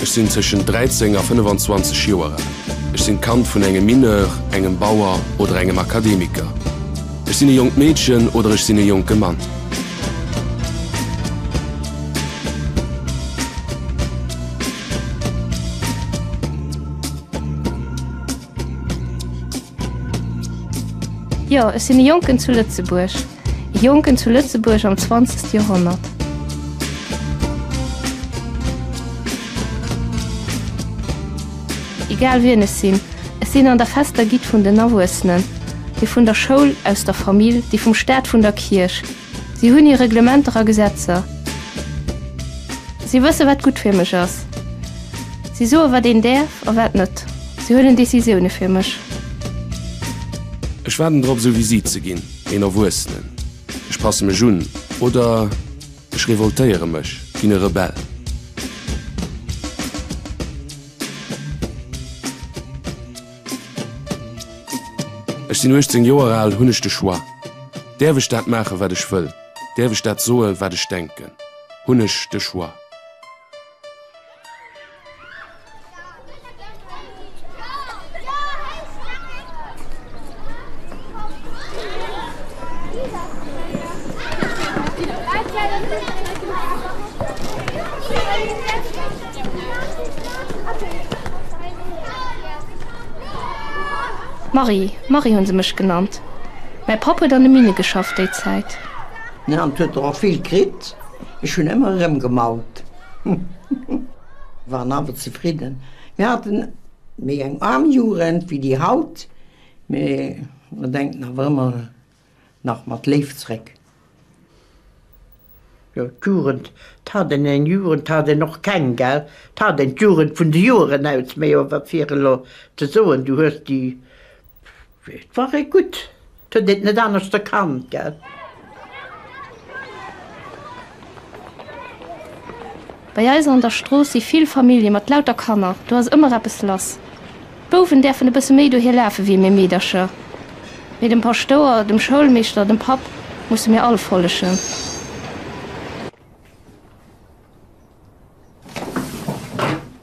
Ech sinn tëschent 13 a 25 Joer al. Ech sinn d'Kand vun engem Mineur, engem Bauer oder engem Akademiker. Ech sinn e jonkt Meedchen oder ech sinn e jonke Mann. Jo, ech sinn e Jonken zu Lëtzebuerg, e Jonken zu Lëtzebuerg am 20. Joerhonnert. Egal wien ech sinn, ech sinn an der fester Gitt vun den Erwuessenen, déi vun der Schoul, aus der Famill, déi vum Staat, vun der Kierch. Si hunn hir Reglementer a Gesetzer. Si wësse wat gutt fir mech ass. Si soe wat een däerf a wat net. Si huelen Decisioune fir mech. Ech waarden drop esou wéi si ze ginn, een Erwuessenen. Ech passe mech un oder ech revoltéiere mech, ginn e Rebell. Ech sinn 18 Joer al, hunn ech de Choix? Däerf ech dat maachen, wat ech wëll? Däerf ech dat soen, wat ech denken? Hunn ech de Choix? Marie, Marie hunn se mech genannt. Mäi Papp huet an de Minne geschafft déi Zäit. An et huet der och vill kritt, ech hunn ëmmer erëmgemaut. Mir waren awer zefridden. Mir haten méi eng aarm Jugend wéi déi haut, mee mer denken awer ëmmer. nach mat Léift zréck. Jo d'Jugend, et hat een eng Jugend, hat een och keng gell, et hat een d'Jugend vun de Joeren aus, mee jo wat fir elo ze soen, du hues déi, et war ee gutt, et huet een et net aneschter kannt gell. Bei eis an der Strooss si vill Famillje mat lauter Kanner, do ass ëmmer eppes lass. D'Bouwen däerfen e bësse méi dohier lafe wéi mir Meedercher, mee dem Paschtouer, dem Schoulmeeschter, dem Papp musse mir all follegen.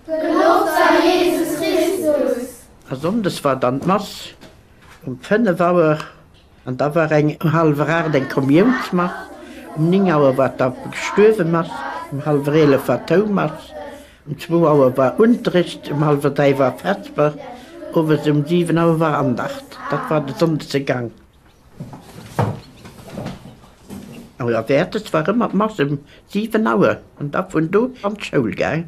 Geloft sei Jesus Christus! A Sonndes war dann d'Mass um 5 Auer. An da war eng um hallwer aacht eng Kommiounsmass, um néng Auer war d'Affe gestuerwe Mass, um hallwer eelef war d'Houmass, um zwou Auer war Unterricht, um hallwer dräi war Vesper, owes um siwen Auer war Andacht. Dat war de sonndege Gang. A jo, wäertes war ëmmer d'Mass um siwen Auer an da vun do an d'Schoul gaang.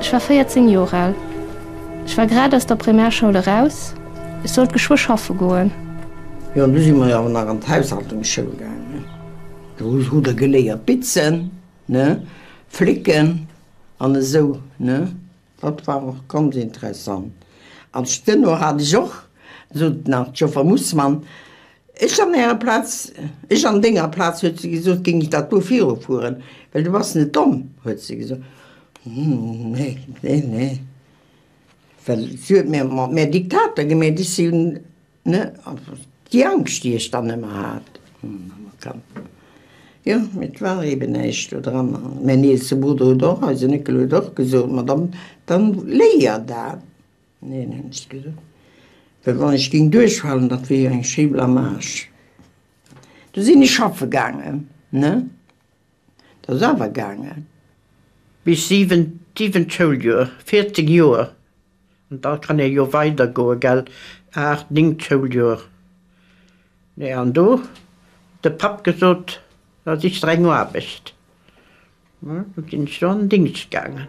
Ech war 14 Joer al. Ech war grad aus der Primärschoul eraus. Ech sollt geschwë schaffe goen. Jo, an du si mer awer nach an d'Haushaltungsschoul gaangen. Do hu der geléiert bitzen, ne, flécken an esou, ne. Dat war och ganz interessant. Als Stenno hat ech och, sot nach d'Joffer Mussmann, ech an Ärer Plaz, ech an Denger Plaz, huet se gesot, géing ech dat do virufueren, well du bass net domm, huet se gesot. Nee, nee, nee. Well si huet mir mat mär Diktater gemeet. Ech si Ne, also déi Angscht, déi ech dann ëmmer hat, jo, mee et war eeben näischt do dran. Mäin eelste Brudder huet och, eise Néckel huet och gesot, ma dann, dann léier dat. Neen, hunn ech gesot, well wann ech géing duerchfalen, dat wier jo eng schéi Blamage. Du sinn ech schaffe gaangen, ne, dat ass awer gaangen. Bis siwent, siwent Schouljoer, 14 Joer. An da kann ee jo weidergoe gell, aacht, néngt Schouljoer. Nee, an do huet de Papp gesot, da sich der eng Aarbecht. Hm, du sinn ech do an Dingscht gaangen.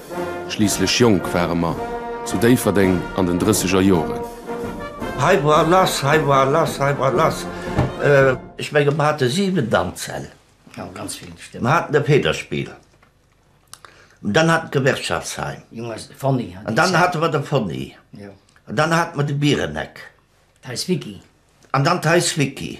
Schliisslech jonk ware mer, zu Déifferdeng an den drësseger Joren. Hei war lass, hei war lass, hei war lass, eh. Ech menge mer hate 7 Danzsäll, mer haten e Federspiel, dann haten mer d'Gewerkschaftsheim, dann hate mer de Fonny, dann hate mer de Biereneck an dann d'Haus Vicky.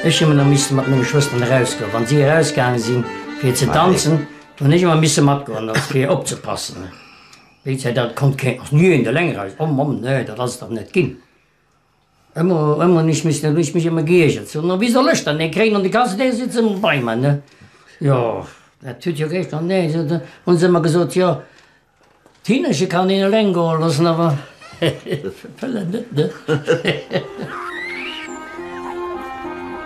Ech hu ëmmer misse mat menge Schwësteren erausgoen, wann si erausgaange sinn, fir ze tanzen. Do hunn ech ëmmer misse matgoen, fir opzepassen. Wéi d'Zäit dat konnt, kéint och ni een eleng eraus. Omm, Omm, nee, dat ass et dach net ginn. Emmer o emmer nich missten hun ech mech emmer geiergert so na wie soll ech dann dee kréien an de Kasse dee sitze bei mer ne jo dat huet jo geeschter an dee se hun se emmer gesot jo d'Hinnerche kann een eleng goe lossen awer d'Pëllen net ne.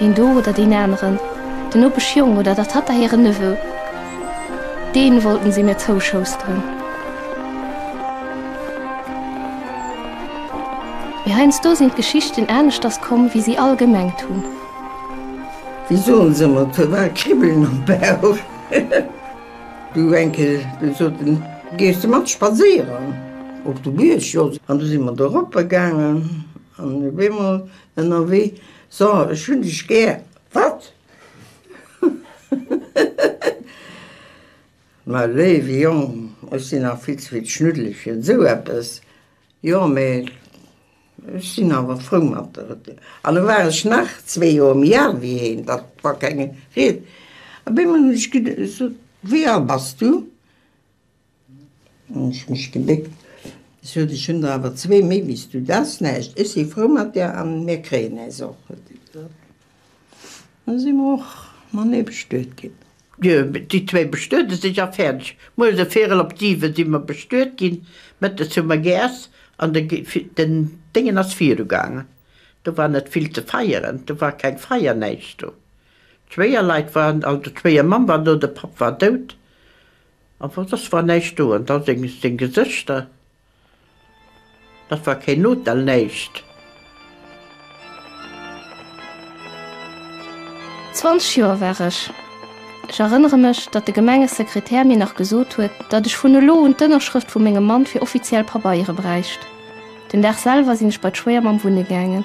Deen do oder deen aneren, den Nopeschjong oder der Tatta hiren Neveu, deen wollten se mir zouschousteren. Mee heiansdo sinn d'Geschichten aneschters komm, wéi si all gemengt hunn. Wéi soen se emmer, et war Kribbelen am Bauch. Du enke gesoten, gees de mat spadséieren op de Bierg? Jo, an du si mer doroppe gaangen an op eemol Ënnerwee, So, ech hunn dech gär. Wat? Ma léiwe Jong, ech sinn nach vill ze vill d'Schnuddele fir esou eppes. Jo, mee ech sinn awer frou mat der Retour. An da war ech nach zwee Joer méi al wéi hien, da war keng Ried. Op eemol hunn ech gesot, Wéi al bass du? Ech mech gebéckt. Sot, Ech hunn der awer zwee méi wéi s du. Dat ass näischt. Ech si frou mat där a mir kréien äis och. Da si mer och manee bestuet ginn. Jo, déi zwéi bestuede sech a fäerdeg. Mueres e Virel op siwe si mer bestuet ginn, mëttes hu mer geäss an den Déngen ass virugaangen. Do war net vill ze feieren, do war keng Feier, näischt do. D'Schwéierleit waren, also d'Schwéiermamm war do, de Papp war dout. A wat ass wa näischt do an da seng Gesëschter? Dat war keen Hotel, näischt. Zwanzeg Joer war ech. Ech erënnere mech, datt de Gemengesekretär mir nach gesot huet, datt ech vun elo un d'Ënnerschrëft vu mengem Mann fir offiziell Pabeiere bräicht. Den Dag selwer sinn ech bei d'Schwéiermamm wunne gaangen.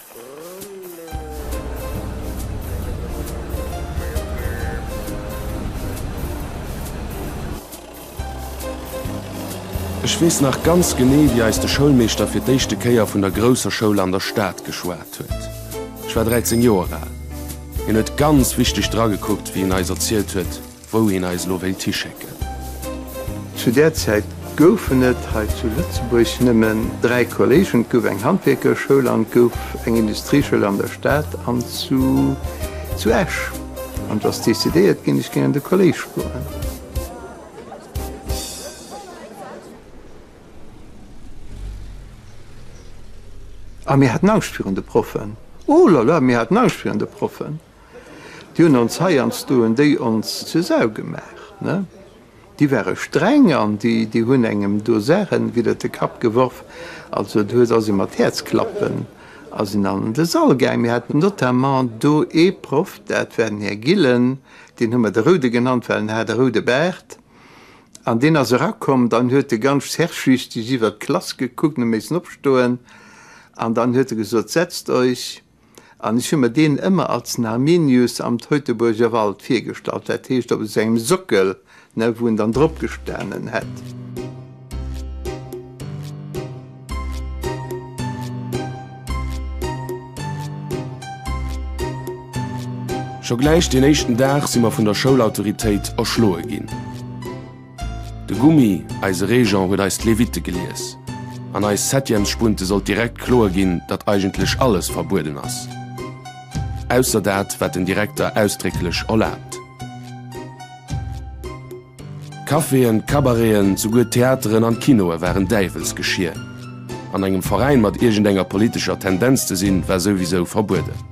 Ech weess nach ganz genee, wéi eis de Schoulmeeschter fir d'éischte Kéier vun der grousser Schoul an der Stad geschwat huet. Ech war 13 Joer al. Hien huet ganz wichteg dragekuckt, wéi en eis erzielt huet, Wou een eis elo wéilt hischécken. Zu där Zäit goufen et hei zu Lëtzebuerg nëmmen dräi Kollégen, et gouf eng Handwierkerschoul an et gouf eng Industrieschoul an der Stad an zu Esch. An et ass decidéiert ginn, ech géing an de Kollége goen. A mir haten Angscht virun de Proffen, oh la la, mir haten Angscht virun de Proffen! Déi hunn ons heiansdo hunn déi ons zur Sau gemaach, ne? Déi ware streng an déi hunn engem do Saachen widder de Kapp geworf. Also do huet, ass ee mat Häerzklappen ass een an de Sall gaang. Mir haten notamment do ee Proff, dat war den Här Gillen, deen hu mer de Roude genannt, well en hat e roude Baart. An deen ass erakomm, dann huet e ganz herrschsüchteg iwwert d'Klass gekuckt, en huet missen opstoen an dann huet e gesot, Setzt euch! An ech hu mer deen ëmmer als en Arminius am Teutoburger Wald virgestallt, dat heescht op esou engem Sockel, ne, wou en dann drop gestanen hätt. Scho gläich deen éischten Dag si mer vun der Schoulautoritéit erschloe ginn. De Gummi, eise Régent, huet eis d'Lévite gelies. An eis Septièmesspunte sollt direkt kloer ginn, datt eigentlech alles verbueden ass. Ausser dat, wat den Direkter ausdrécklech erlaabt. D'Caféen, d'Cabareten, souguer d'Theateren an d'Kinoe waren Däiwelsgeschier. An engem Veräin mat iergendenger politescher Tendenz ze sinn, war souwisou verbueden.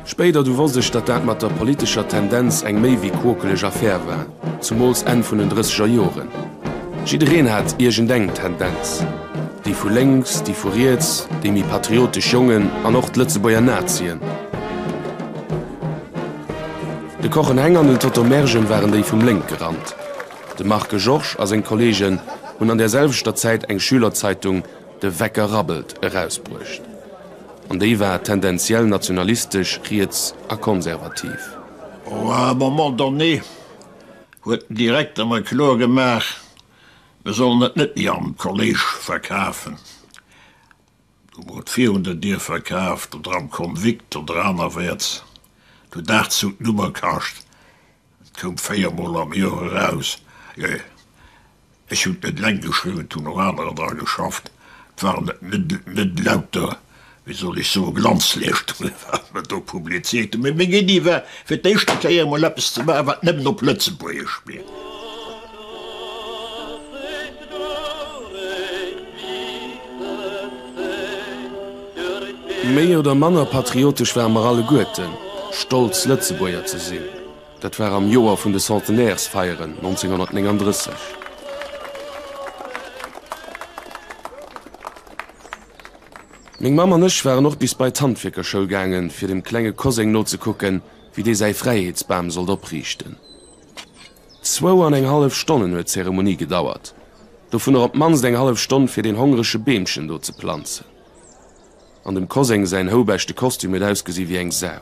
Spéider du wosst ech, datt dat mat der politescher Tendenz eng méi wéi quokeleg Affär war, zumools Enn vun den drësseger Joren. Jiddereen hat iergendeng Tendenz, déi vu lénks, déi vu riets, déi méi patriotesch Jongen an och d'Lëtzebuerger Nazien. De Kochen-Heng an den Toto Mergen waren déi vum lénke Rand. De Marc Georges a seng Kollegen hunn an där selwechter Zäit eng Schülerzeitung, De Wecker rabbelt erausbruecht. An déi war tendenziell nationalistesch, riets a konservativ. À un moment donné huet den Direkter mer kloer gemaach, mir sollen et net méi am Kolléisch verkafen. Du mer et virun der Dier verkaaft oder am Konvikt oder anerwäerts. Du dachs, huet d'Nummer kascht Et koum véier Mol am Joer eraus. Ech hunn et net eleng geschriwwen, et hunn och anerer dra geschafft. Et waren net lauter, wéi soll ech soen, Glanzleeschtungen, wat mer do publizéiert hunn, mä meng Iddi war, fir d'éischte Kéier emol eppes ze maachen, wat nëmmen op Lëtzebuergesch wier. Méi oder manner patriotesch ware mer alleguerten, stolz Lëtzebuerger ze sinn. Dat war am Joer vun de Centenaires-Feieren 1939. Meng Mamm an ech waren och bis bei d'Handwierkerschoul gaangen, fir dem klenge Koseng nozekucken, wéi dee säi Fräiheetsbam sollt opriichten. Zwou an eng hallef Stonnen huet d'Zeremonie gedauert, dovunner op d'mannst eng hallef Stonn fir deen hongrege Beemchen do ze planzen. An dem Koseng säin houbechte Kostüm huet ausgesi wéi eng Sau.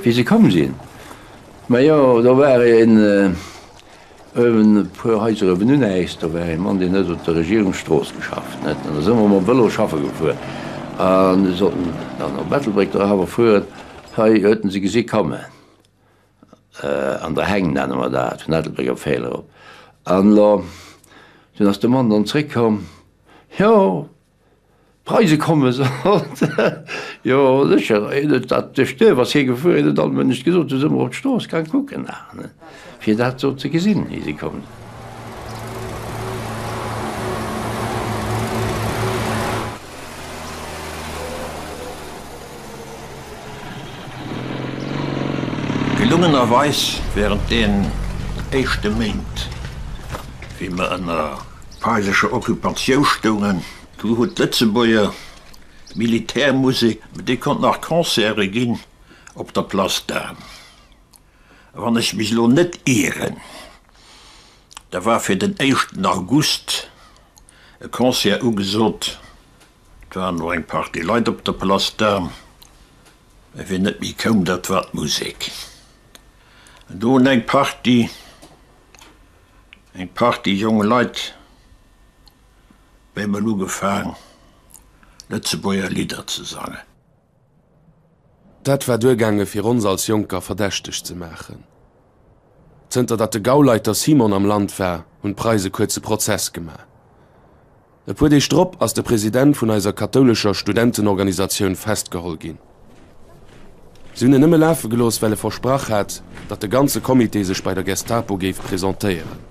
Wéi se komm sinn? Ma jo, do war een ëwen e puer Haiser ëwen un äis, do war ee Mann, deen huet op der Regierungsstrooss geschafft, net? An da si mer mam Vëlo schaffe gefuer an sollten dann op Ettelbréck do awer fueren. Hei huet en se gesi kommen. An der Heng nenne mer dat, vun Ettelbréck op Féilerop. An elo, dunn ass de Mann dann zréckkomm, Jo, d'Preise komme sot. Jo, sécher, hien huet dat, duerch d'Duerf ass hie gefuer, hien huet allem Mënech gesot, du sot mer op d'Strooss gaang kucken nach, fir dat do ze gesinn, wéi se komm sinn. Gelungenerweis während den éischte Méint, wéi mer ënner feindlecher Occupatiou stoungen, do huet d'Lëtzebuerger Militärmusek, déi konnt nach Concerte ginn op der Place d'Armes, a wann ech mech elo net ieren, da war fir den éischten August e Concert ugesot Et waren och eng Partie Leit op der Place d'Armes, mä wien net méi koum, dat war d'Musek. An do hunn eng Partie, eng Partie jonk Leit op eemol ugefaang, Lëtzebuerger Lidder ze sangen. Dat war duergaange fir ons als Jonker verdächteg ze maachen. Zënter datt de Gauleiter Simon am Land war, hunn d'Preise kuerze Prozess gemaach. E puer Deeg drop ass de President vun eiser kathoulescher Studentenorganisatioun festgeholl ginn. Si hunn en nëmme lafe gelooss, well e versprach hat, datt de ganze Comité sech bei der Gestapo géif presentéieren.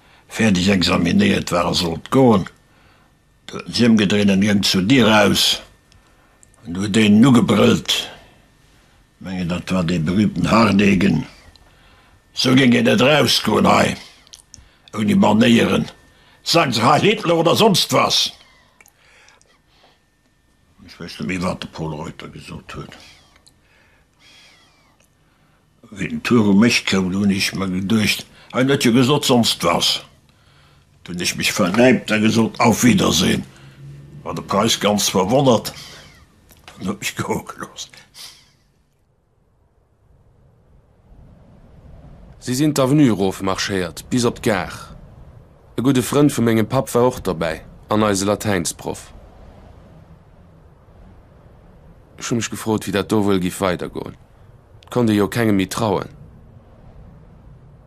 Fäerdeg examinéiert war a sollt goen. Du huet en sech ëmgedréint an gëng zur Dier eraus. An du huet een en ugebrëllt. Mengen, dat war dee berühmten Hardegen. Esou gëng een net erausgoen hei, ouni Manéieren. Sagen se Heil Hitler oder sonst was! Ech wéisst net méi wat de Pol Reuter gesot huet. Wéi den Tour um Esch koum, do hunn ech mer geduecht, Hien huet jo gesot sonst was. Do hunn ech mech vernäipt a gesot, Auf Wiedersehen. War de Preiss ganz verwonnert an huet mech goe gelooss. Si sinn d'Avenue erof marschéiert bis op d'Gare. E gudde Frënd vu mengem Papp war och dobäi an eise Latäinsproff. Ech hu mech gefrot, wéi dat do wuel giff weidergoen. Et konnt ee jo kengem méi trauen.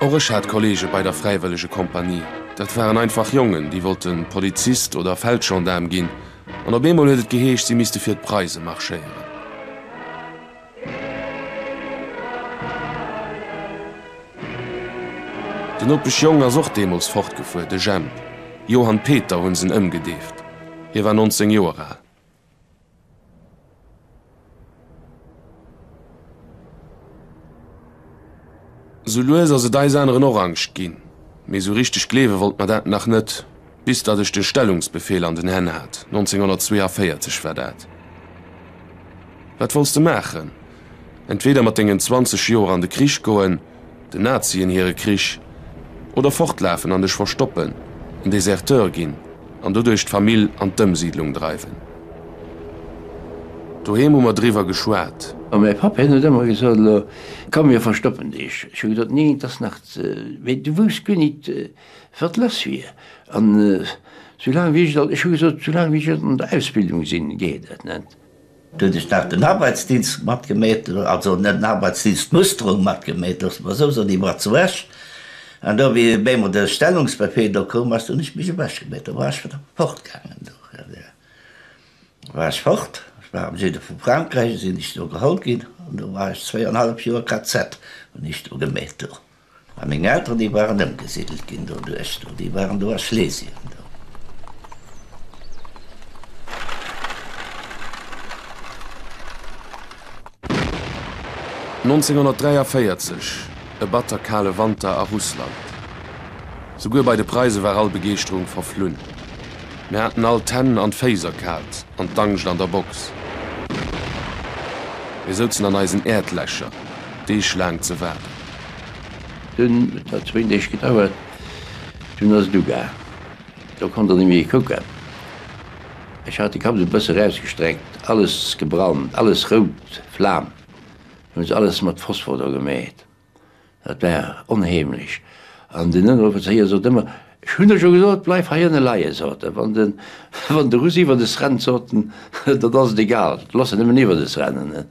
Och ech hat Kollege bei der Fräiwëllegekompanie. Dat waren einfach Jongen, déi wollte Polizist oder Feldgendaarm ginn. An op eemol huet et geheescht, si misste fir d'Preise marschéieren. Den Opesch Jong ass och deemools fortgefuer, de Jemp. Johann Peter hu se en ëmgedeeft. Hie war 19 Joer al. Sou lues ass et eis aneren och Angscht ginn, mee sou richteg gleewe wollt mer dat nach net, bis datt ech de Stellungsbefehl an den Hänn hat, 1942 war dat. Wat wolls de maachen? Entweder mat dengen 20 Joer an de Krich goen, Den Nazien hire Krich, oder fortlafen an dech verstoppen, en Deserteur ginn an doduerch d'Famill an d'Ëmsiidlung dreiwen. Doheem hu mer driwwer geschwat. A mäi Papp, hien huet ëmmer gesot, Elo komm, mir verstoppen dech. Ech hu gesot, Nee, et ass nach ze. Mee du wousst guer nit, wat lass wier. An soulaang wéi ech, ech hu gesot, soulaang wéi ech an der Ausbildung sinn, geet et net. Do huet ech nach den Arbeitsdienst matgemeet, also net den Arbeitsdienst, d'Musterung matgemeet, loosse mer esou soen, déi war zu Esch. An do, wéi wéi emol de Stellungsbefehl do koum ass, do hunn ech mech ewechgemeet, do war ech wieder fortgaangen. Do war ech fort, ech war am Süde vu Frankräich, sinn ech do geholl ginn an do war ech zwéi an e hallef Joer KZ, hunn ech do gemeet do. A meng Elteren, déi waren ëmgesidelt ginn doduerch do, déi waren do a Schlesien do. Nonzénhonnertdräiundvéierzeg, E batter kale Wanter a Russland. Souguer bei de Preise war all Begeeschterung verflunn. Mir haten all d'Hänn an d'Féiss erkaalt an d'Angscht an der Box. Mir souzen an eisen Äerdlächer, deeglaang ze waarden. Dunn, et hat zwéin Deeg gedauert, dunn ass et ugaang. Do konnt der net méi kucken. Ech hat de Kapp esou e bësse rausgestreckt, alles gebrannt, alles rout Flam. Hunn se alles mat Phosphor dra gemeet. Dat war onheemlech. An den Ënneroffizéier sot ëmmer, Ech hunn der jo gesot, bleif heiënne leie, sot e, wann den, wann de Russ iwwert es rennt, sot en, dat ass et egal, looss en nëmmen iwwert es rennen.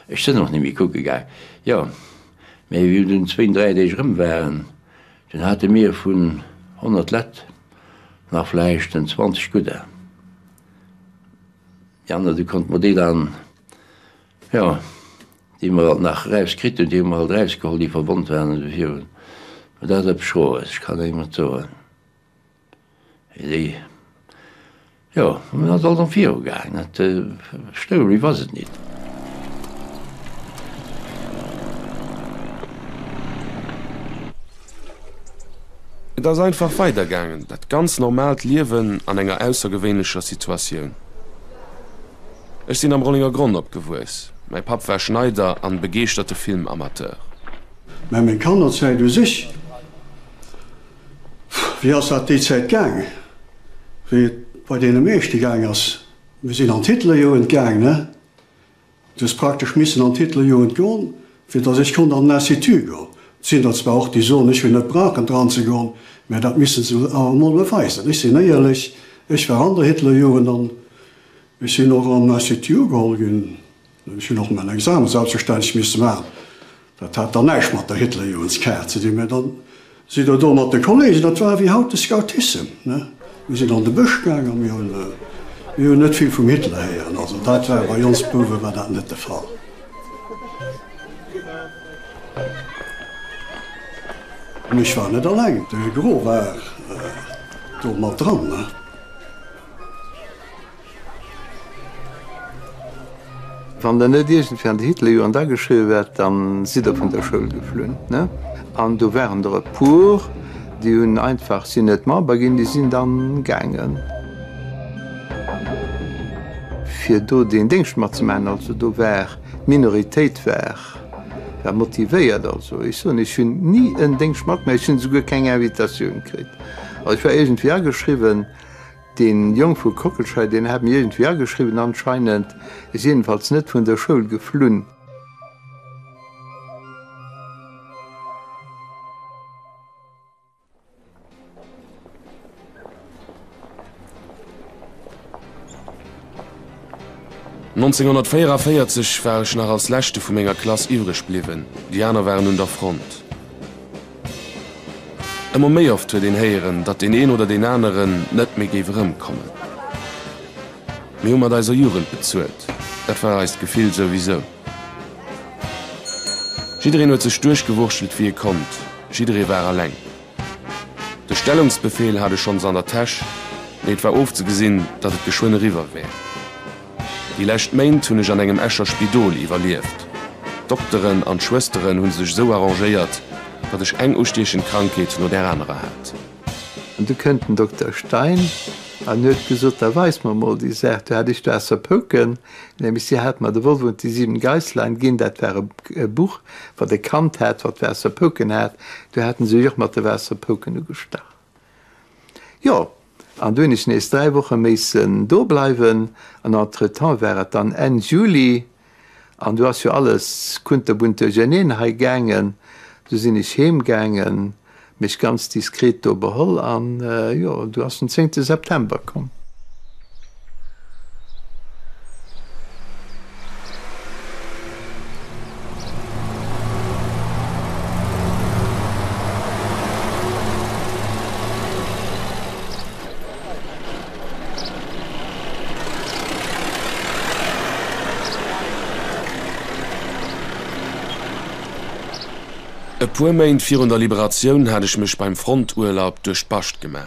Ech sënn och nemme kucke gaang. Jo, mä wéi mir dunn zwéin, dräi Deeg erëm waren, dunn hate mir vun honnert Lett nach vläicht en zwanzeg gudder, déi aner, du konnt mer déi dann, jo. déi mer alt nach erauskritt hunn, déi hu mer alt erausgeholl, déi verwonnt waren an de Virun, mä dat ass eppes Schroes, ech kann engem net soen, wéi déi, jo, mir ass alt am Virou gaangen, dat story was it nit. Et ass einfach weidergaangen, dat ganz normaalt Liewen an enger aussergewéinlecher Situatioun. Ech sinn am Rollingergronn opgewuess. Mäi Papp war Schneider an begeeschterte Filmamateur. Mä meng Kannerzäit u sech, wéi ass dat déi Zäit gaangen, wéi et bei deene meeschte gaang ass, mir sinn an d'Hitlerjugend gaang, ne? Du hues praktesch missen an d'Hitlerjugend goen, fir datt ech konnt an den Institut goen. Et sinn der zwar och, déi soen, ech hunn net brauchen dran ze goen, mä dat misse se awer emol beweisen. Ech sinn éierlech, ech war an der Hitlerjugend an Ech sinn och an d'Institut ugeholl ginn. Ech hunn och mäin Examen selbstverständlech misse maachen. Dat hat dann näischt mat der Hitlerjoenskaart ze dinn, mä da sidd Der do mat de Kollegen, dat war wéi haut de Scoutissem, ne? Mir sinn an de Bësch gaangen a mir hunn, mir hunn net vill vum Hitler héieren. Also dat war, bei ons Bouwe war dat net de Fall. An ech war net alleng, de Gros war do mat dran, ne? Wann der net iergendwéi an de Hitlerjoren ageschriwwe wäert, da sidd der vun der Schoul geflunn. An do waren der e puer, déi hunn einfach, sinn net Member ginn, déi sinn dann gaangen, fir do deen Déngscht matzemaachen. Also do war, d'Minoritéit war motivéiert. Also ech soen, ech hunn ni en Déngscht matgemaach, ech hunn esouguer keng Invitatioun kritt. Ech war iergendwéi ageschriwwen. Deen Jong vu Kockelschei, deen hat mir iergendwéi ageschriwwen anscheinend, is jedenfalls net vun der Schoul geflunn. Nonzénhunnertvijfenféierzeg war ech nach als leschte vu menger Klass iwwreg bliwwen, déi aner waren un der Front. Ëmmer méi oft huet een héieren, datt deen een oder deen aneren net méi géif erëmkommen. Mir hu mat eiser Jugend bezuelt, dat war eist Gefill souwisou. Jiddereen huet sech duerchgewurschtelt wéi e konnt, jidderee war eleng. De Stellungsbefehl hat e schonns an der Täsch, mee et war ofzegesinn, datt et geschwënn eriwwer wär. Déi lescht Méint hunn ech an engem Escher Spidol iwwerlieft. D'Dokteren an d'Schwësteren hu sech esou arrangéiert, datt ech eng ustiechend Krankheet no där anerer hat. An du kënnt den Dokter Stein an huet gesot, da weis mer mol déi Saach. Du hat ech do ausser Pouken, nämlech si hat mer De Wolf und die sieben Geislein ginn. Dat war e Buch, wat e kannt hat, wat Waasserpouken hat. Du haten se jo och mat de Waasserpouken ugestach. Jo, An du hunn ech nees dräi Woche méissen do bleiwen an entretemps war et dann Enn Juli an du ass jo alles kunterbunt duercherneen hei gaangen. Du sinn ech heem gaangen, mech ganz diskret do beholl an jo, du ass den zéngte September komm. E puer Méint virun der Liberatioun hat ech mech beim Fronturlaub duerch d'Bascht gema.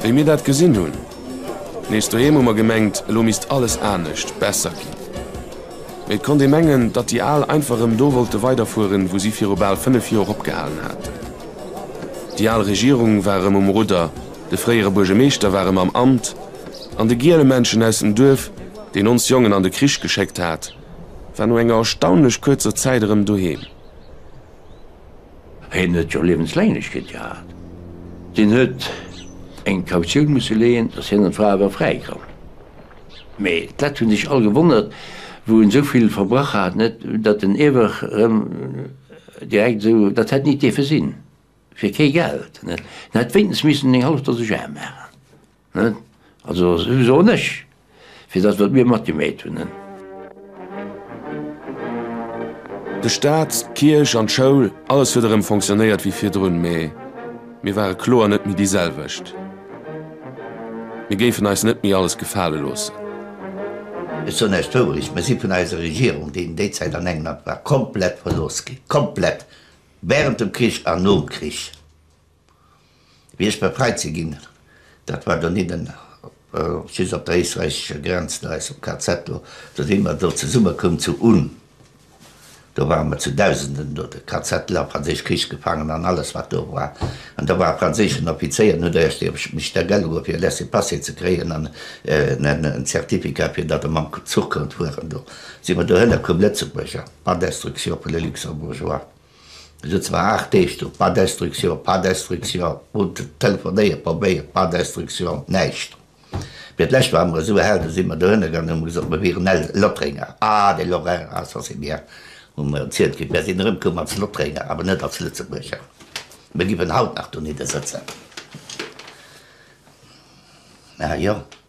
Wéi mir dat gesinn hunn nees doheem, hu mer gemengt, elo misst alles anescht, besser ginn. Et konnt ee mengen, datt déi Al einfach erëm do wollte weiderfueren, wou si viru bal fënnef Joer opgehalen haten. Déi al Regierung war erëm um Rudder, de fréiere Buergemeeschter war erëm am Amt an de Gielemänchen aus dem Duerf, deen ons Jongen an de Krich geschéckt hat, War no enger erstaunlech kuerzer Zäit erëm doheem. Hien huet jo Liewensläinglechkeet gehat. Deen huet eng Kautioun musse leeën, datt hien an d'Fra awer fräi kann. Mee dat hunn sech all gewonnert, wou en esou vill verbrach hat, net datt den iewer erëm direkt esou, dat hätt nit dierfe sinn, fir kee Geld, net. En hätt wéinstens missen eng hallef Dose Jare maachen. Net? Also souwisou nech, fir dat wat mir matgemeet hunn. Net? De Staat, d'Kierch an d'Schoul, alles huet erëm fonctionnéiert wéi virdrun, mee mir ware kloer net méi déi selwecht. Mir géifen eis net méi alles gefale loossen. Ech soen eis d'Wourecht, Mir si vun eiser Regierung, déi in déi Zäit an engem Amt war, komplett verlooss ginn. Komplett! Während dem Krich an nom Krich. Wéi ech befreit si ginn, dat war doninnen, just op der éisträichescher Grenz, no eis am KZ do, do si mer do zesummekoum zu Unn, do ware mer zu Dausenden do, de KZ, la, franséisch Krichsgefaangen an alles, wat do war. An do war e franséischen Offizéier, en huet éischt iewescht mech da gell geholl, fir e Laissez-passer ze kréien an en Certificat, fir datt e mam Zuch konnt fueren. Do si mer dohinner koum, Lëtzebuerger, par d'instruction pour les Luxembourgeois. Esou zwar aacht Deeg do, pas d'instruction, pas d'instruction, hun telefonéiert, probéiert, pas d'instruction, näischt. Mee d'lescht ware mer esou hell, do si mer dohinner gaangen, hu mer gesot, mer wieren L, Lottrenger. Ah, de Lorrain, ah, ça c'est bien, hu mer erzielt kritt. Mer sinn erëmkoum als Lottrenger, awer net als Lëtzebuerger. Mer giffen haut nach doniddesëtzen. Ah jo.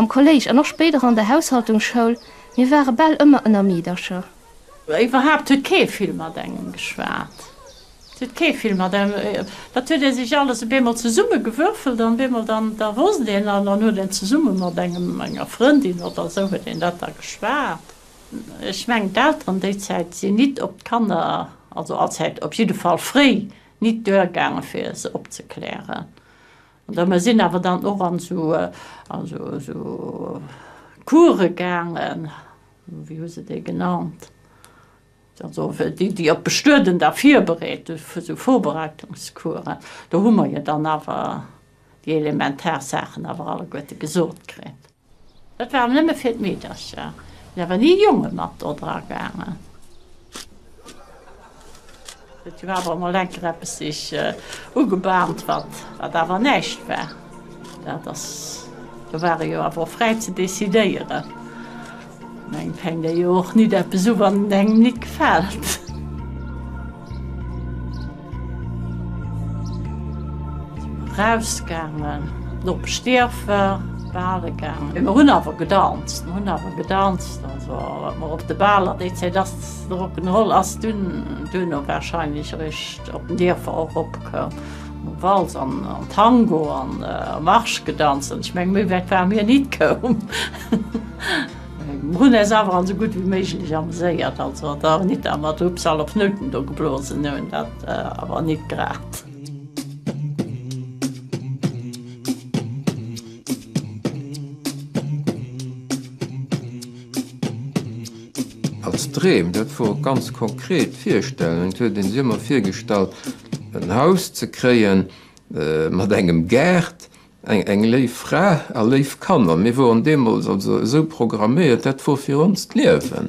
Am Kolléisch an och spéider an der Haushaltungsschoul, mir ware bal ëmmer ënner Meedercher. Iwwerhaapt huet kee vill mat engem geschwat. Et huet kee vill mat engem, dat huet ee sech alles op eemol zesummegewürfelt an op eemol dann, da wosst een an dann huet een zesumme mat engem, enger Frëndin oder sou huet een dat da geschwat. Ech mengen d'Elteren déi Zäit sinn nit op d'Kanner, also allzäit, op jidde Fall fréi nit duergaangen fir se opzeklären. An da mer sinn awer dann och an sou, an sou, sou Course gaangen, Wéi hu se déi genannt? Also déi, déi op d'Bestueden da virbereet, fir esou Vorbereitungscoursen. Do hu mer jo dann awer déi elementar Saachen awer alleguerte gesot kritt. Dat war nëmme fir d'Meedercher. Et sinn awer ni Jonge mat do dragaangen. Et war awer emol enker eppes sech ugebahnt, wat awer näischt war. Dat ass, do war ee jo awer och fräi ze decidéieren. Engem fänkt ee jo och nit eppes u, wann et engem nit gefält. Rausgaangen, Nopp Stierfer, bale gaangen. Mee mer hunn awer gedanzt, mer hunn awer gedanzt, also mer op de Baler, déi Zäit ass. Rock'n'Roll ass dunn duerno warscheinlech eréischt op den Dierfer eropkoum, wou Walz an Tango an Marsch gedanzt hunn. Ech menge méi wäit ware mir ni koum. Mir hunn äis awer esou gutt wéi méiglech ameséiert, also et ass nit dat mer d'Rübsal op Nouten do geblosen hunn, dat awer nit grad. Als Dreem, dat wor ganz konkret virstellend, huet een sech ëmmer virgestallt en Haus ze kréien mat engem Gaart, eng léif Fra a léif Kanner. Mir woren deemols also esou programméiert, dat wor fir ons d'Liewen.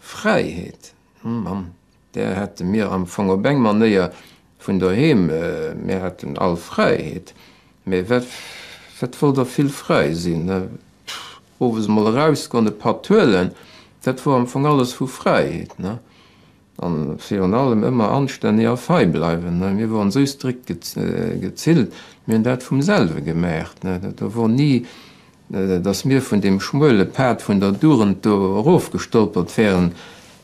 Fräiheet, mam där hätte mir am Fong op eng Manéier vun doheem, mir hätten all Fräiheet, mee wat wollt der vill fräi sinn? Owes emol erausgoen, e Patt huelen, dat wor am Fong alles vu Fräiheet. An virun allem ëmmer anstänneg a fei bleiwen, mir woren esou strikt gezillt, mir hunn dat vum selwe gemaacht, do wor ni Dass mir vun deem schmuele Pad vun der Dugend do erofgestolpert wären,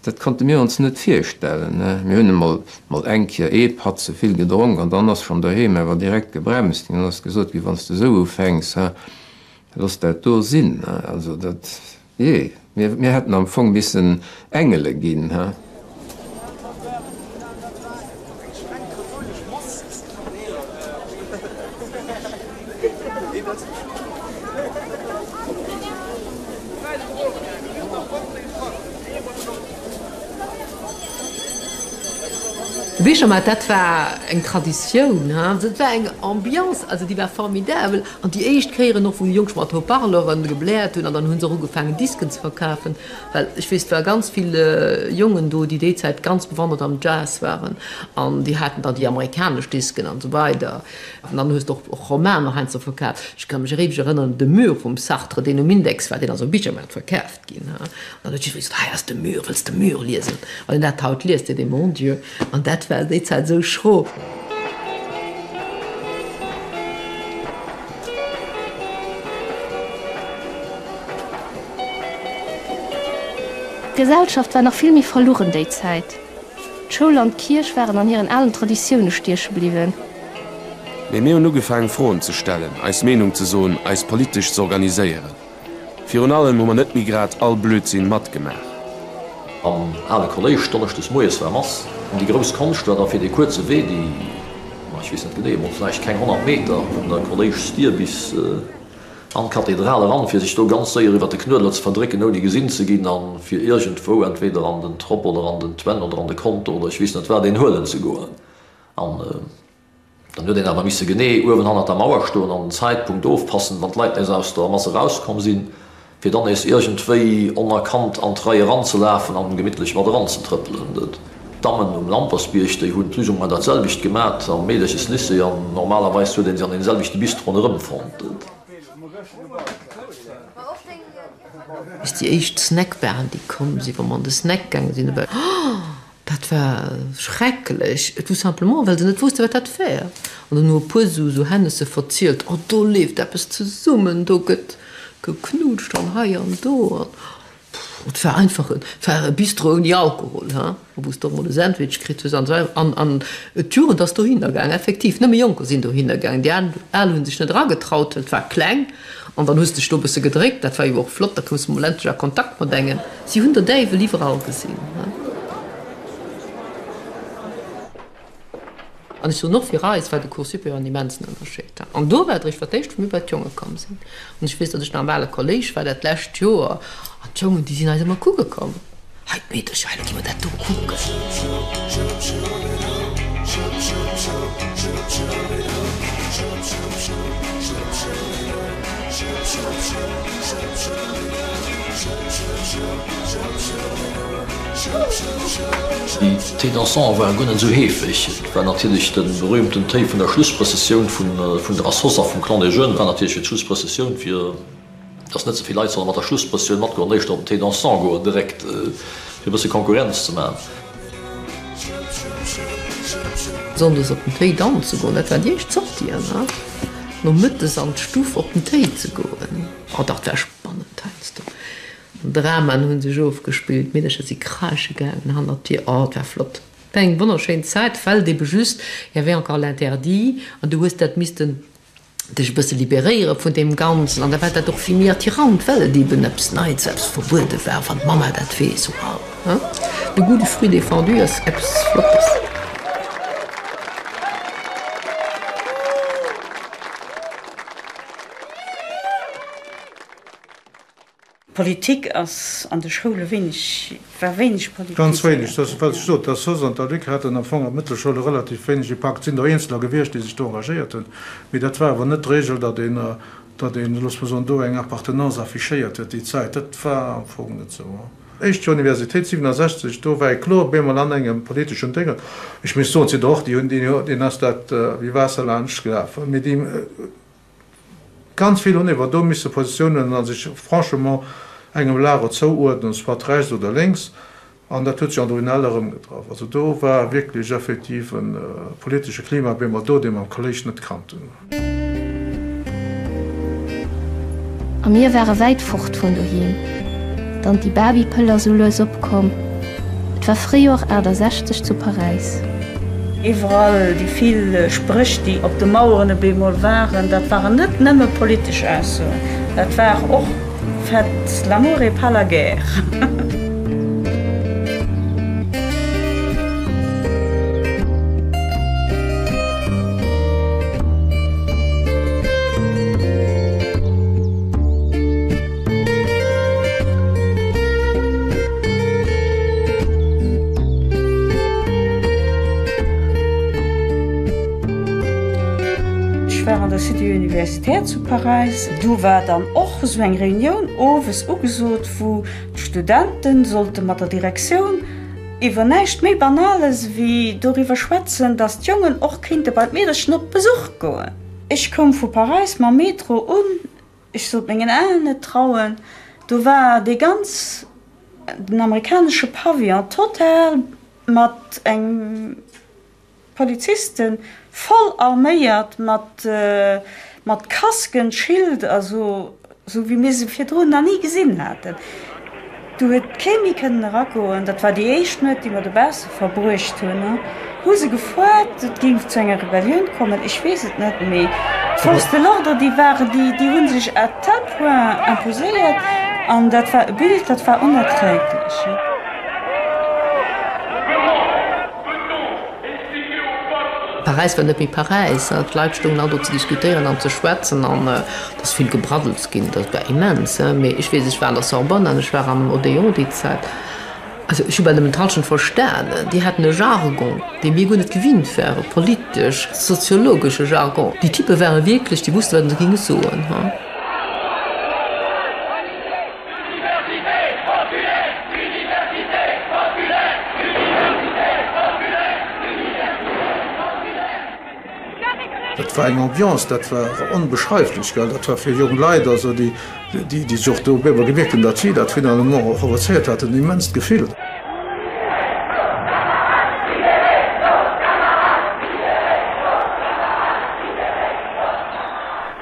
dat konnte mir ons net virstellen. Mir hunn emol mol eng Kéier ee Patt ze vill gedronk an dann ass schonn doheem awer direkt gebremst ginn. Dann ass gesot ginn, Wann s de esou ufänks, looss dat do sinn. Also dat. Jee, mir hätten am Fong missen Engele ginn, hä? Wéi scho mar, dat war eng Traditioun, hä? Dat war eng Ambiance, also déi war formidabel. An déi éischt Kéier och, wou Jonk mat Haut-Parleure gebläert hunn, an dann hu se och ugefaangen, Disken ze verkafen, well ech weess, et ware ganz vill Jongen do, déi déi Zäit ganz bewandert am Jazz waren, an déi haten dann déi amerikanesch Disken an esou weider. An dann hues de och Romaner heiansdo verkaaft. Ech ka mech eréiweg erënneren, de Mur vum Sartre, deen um Index war, deen ass op Bichermaart verkaaft. ginn an dann huet jidderee gesot, hei ass de Mur, wëlls de Mur liesen? Wann een dat haut liest, seet ee, mon Dieu, an dat war déi Zäit esou schro. D'Gesellschaft war nach vill méi verluchen déi Zäit. D'Schoul an d'Kierch waren an hiren alen Traditioune stieche bliwwen. Mee mir hunn ugefaangen, Froen ze stellen, eis Meenung ze soen, eis politesch z'organiséieren. Virun allem hu mer net méi grad all Blödsinn matgemaach. Am ale Kolléisch, donneschdes moies war Mass, an déi grouss Konscht war da fir dee kuerze Wee, déi, ma ech weess net genee, emol vläicht keng 100 Meter, vun der Kolléischsdier bis an d'Kathedral eran, fir sech do ganz séier iwwer de Knuedler ze verdrécken, ouni gesinn ze ginn, a fir iergendwou entweder an den Trop oder an den Twänn oder an de Konto oder ech weess net wat een huelen ze goen. An. Dann huet een awer misse genee uewen hannert der Mauer stoen an den Zäitpunkt ofpassen, wann d'Leit nees aus der Mass erauskomm sinn, fir dann nees iergendwéi onerkannt an d'Rei eranzelafen an gemittlech mat eranzetrëppelen. D'Dammen um Lampersbierg, déi hunn plus ou moins dat selwecht gemat am Meederches Lycée an normalerweis huet ee se an deem selwechte Bis ronderëm fonnt. Bis déi éischt Snackbaren, déi komm sinn, wa mer an de Snack gaange sinn, Dat war schrecklech, tout simplement well se net wousste wat dat wär. An dann hu e puer esou Hännesse verzielt, oh do leeft eppes zesummen, do gëtt geknutscht an hei an do. An et war einfach, et war e Bistro ouni Alkohol, he, wou s de och mol e Sandwich kritt hues an esou weider. An, an d'Jugend ass dohinner gaang, effektiv. Nëmme Jonker sinn dohinner gaang, déi Al hunn sech net eragetraut, well et war kleng. An dann hues dech do e bësse gedréckt, dat war jo och flott, da koums de mol endlech a Kontakt mat engem. Si hunn der Däiwel iwwerall gesinn. An ech soen och, fir eis war de Cours supérieur en immensen Ënnerscheed. An do war et eréischt fir d'éischt, wou mir bei d'Jonge komm sinn. An ech weess, datt ech nach am ale Kolléisch war dat lescht Joer, an d'Jongen, déi sinn eis ëmmer kucke komm. Hei d'Meedercher, hei logier mer dat do kucken. D'Thé dansant war guer net sou heefeg. Et war natierlech de berühmten Téi vun der Schlussprëssessioun vun der Associatioun vum Clan des Jeunes, war natierlech fir d'Schlussprëssessioun fir. dass net ze vill Leit solle mat der Schlusspressioun matgoen an éischter op den Thé dansant goen, direkt, fir e bësse Konkurrenz ze maachen. Sonndes op den Thé danze goen, dat war déi éischt Sortie, an nomëttes an d'Stuff op den Thé ze goen. Oh, dat war spannend heiansdo, an Dramaen hu sech ofgespillt, d'Meedercher si kreesche gaangen hannert d'Dir. Oh, et war flott, et war eng wonnerschéin Zäit, fällt eben just, il y avait encore l'interdit, an du hues dat missten dech e bësse liberéiere vun deem Ganzen an da war dat och vill méi attirant, well et eben eppes Neits, eppes Verbuede war, wann d'Mamma dat weess, wow, hein, de goût du fruit défendu ass eppes Flottes. Politik ass an de Schoule wéineg, war wéineg politiséiert. Ganz wéineg, dat ass dat, wat ech sot. Der sos an der Luc haten am Fong an d'Mëttelschoule relativ wéineg Impakt. Et sinn der Eenzeler gewiescht, déi sech do engagéiert hunn, mee dat war awer net d'Regel, datt een, datt een, looss mer soen, do eng Appartenance affichéiert huet déi Zäit. Dat war am Fong net esou. Éischt Joer Universitéit, 67, do war ee kloer op eemol an engem politeschen Déngen. Ech muss soen, et sinn der och, déi hunn, deenen ass dat wéi Waasser laanscht gelaf, mee déi, Ganz vill hunn ewer do misse Positioun huelen a sech franchement engem Lager zouuerdnen, soit rechts oder lénks, an dat huet sech an der UNEL erëmgetraff. Also do war wierklech effektiv e politesche Klima, wéi mer do dee mam Kolléisch net kannt hunn. A mir ware wäit fort vun doheem. D'Anti-Barbie-Pëll ass sou lues opkomm, et war Fréijoer 68 zu Paräis. Iwwerall déi vill Spréch, déi op de Maueren op eemol waren, dat waren net nëmme politesch Aussoen, dat war och Faites l'amour et pas la guerre. Ech war an der Cité universitaire zu Paräis. Do war dann och esou eng Reunioun owes ugesot, wou d'Studente sollte mat der Direktioun iwwer näischt méi Banales wéi doriwwer schwätzen, datt d'Jongen och kéinte bei d'Meedercher op Besuch goen. Ech koum vu Paräis mam Metro un Ech sollt mengen Aen net trauen, do war dee ganz den amerikanesche Pavillon total mat eng Polizisten, voll arméiert, mat Kasken, Schild, also sou wéi mir se virdrun na ni gesinn haten. Do huet kee méi kënnen eragoen. Dat war déi éischt Nuet, déi mer dobausse verbruecht hunn. Hu se gefuert, et géing zu enger Rebellioun kommen? Ech weess et net, mee d'Forces de l'ordre, déi waren, déi hu sech à tel point imposéiert, an dat war e Bild, dat war onerträglech. Paräis war net méi Paräis. D'Leit stoungen all do ze diskutéieren an ze schwätzen an et ass vill gebraddels ginn. Dat war immens. Mee ech weess, ech war an der Sorbonne an ech war am Odéon déi Zäit. Also ech hu bal nëmmen d'Hallschent verstanen. Déi haten e Jargon, dee mir guer net gewinnt waren, politesch, soziologesche Jargon. Déi Typpe ware wierklech, déi wusste wat se géinge soen. Dat war eng Ambiance, dat war onbeschreiflech. Dat war fir jonk Leit, also déi sech och do bemol gemierkt hunn, datt si dat finalement och provozéiert haten, en immenst Gefill.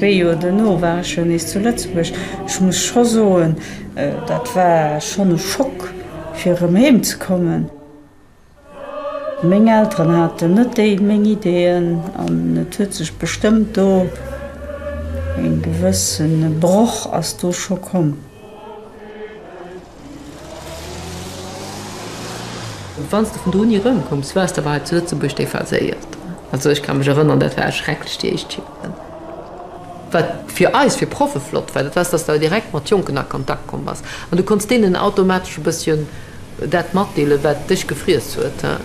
Wéi jo dono war ech jo nees zu Lëtzebuerg. Ech muss scho soen, dat war schonn e Schock fir erëm heem ze kommen. Meng Elteren haten net déi meng Ideeën an et huet sech bestëmmt do e gewëssene Broch ass do scho komm. Wann s de vun do ni erëmkoums, wars de awer hei zu Lëtzebuerg dee Verséierten. Also ech ka mech erënneren, dat war erschrecklech, déi éischt Joren. Wat fir eis, fir Proffe flott war, dat war, dass de direkt mat Jonken a Kontakt komm bass an du konnts deenen automatesch e bësschen dat matdeelen, wat dech gefriess huet.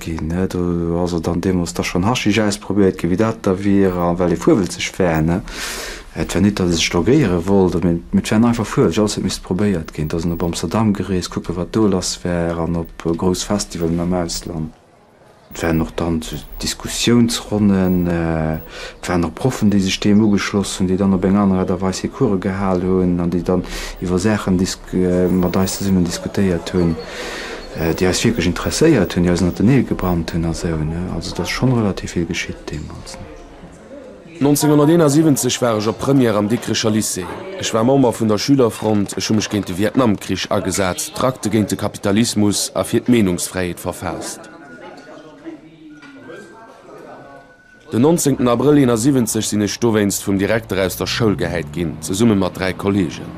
Ginn. Do ass et dann deemools da schonn Haschisch ausprobéiert ginn, wéi dat da wier, a well ee fuerwelzeg wär, ne? Et war nit, datt ee sech drogéiere wollt, mee et war en einfach fuerwelzeg, alles huet missen probéiert ginn. Da sinn op Amsterdam gereest, kucken, wat do lass war, an op grouss Festivalen am Ausland. Et waren och dann sou Diskussiounsronnen, et waren och Proffen, déi sech deem ugeschloss hunn, déi dann op eng aner Aart a Weis hir Course gehal hunn an déi dann iwwer Saachen mat eis zesummen diskutéiert hunn. déi eis wierklech interesséiert hunn, déi eis ënnert de Neel gebrannt hunn a sou, ne? Also et ass schonn relativ vill geschitt deemools, ne? 1971 war ech op Première am Dikricher Lycée. Ech war Member vun der Schülerfront, ech hu mech géint de Vietnamkrich agesat, Trakte géint de Kapitalismus a fir d'Meenungsfräiheet verfaasst. Den 19 Abrëll 71 sinn ech dowéinst vum Direkter aus der Schoul gehäit ginn, zesumme mat dräi Kolleegen.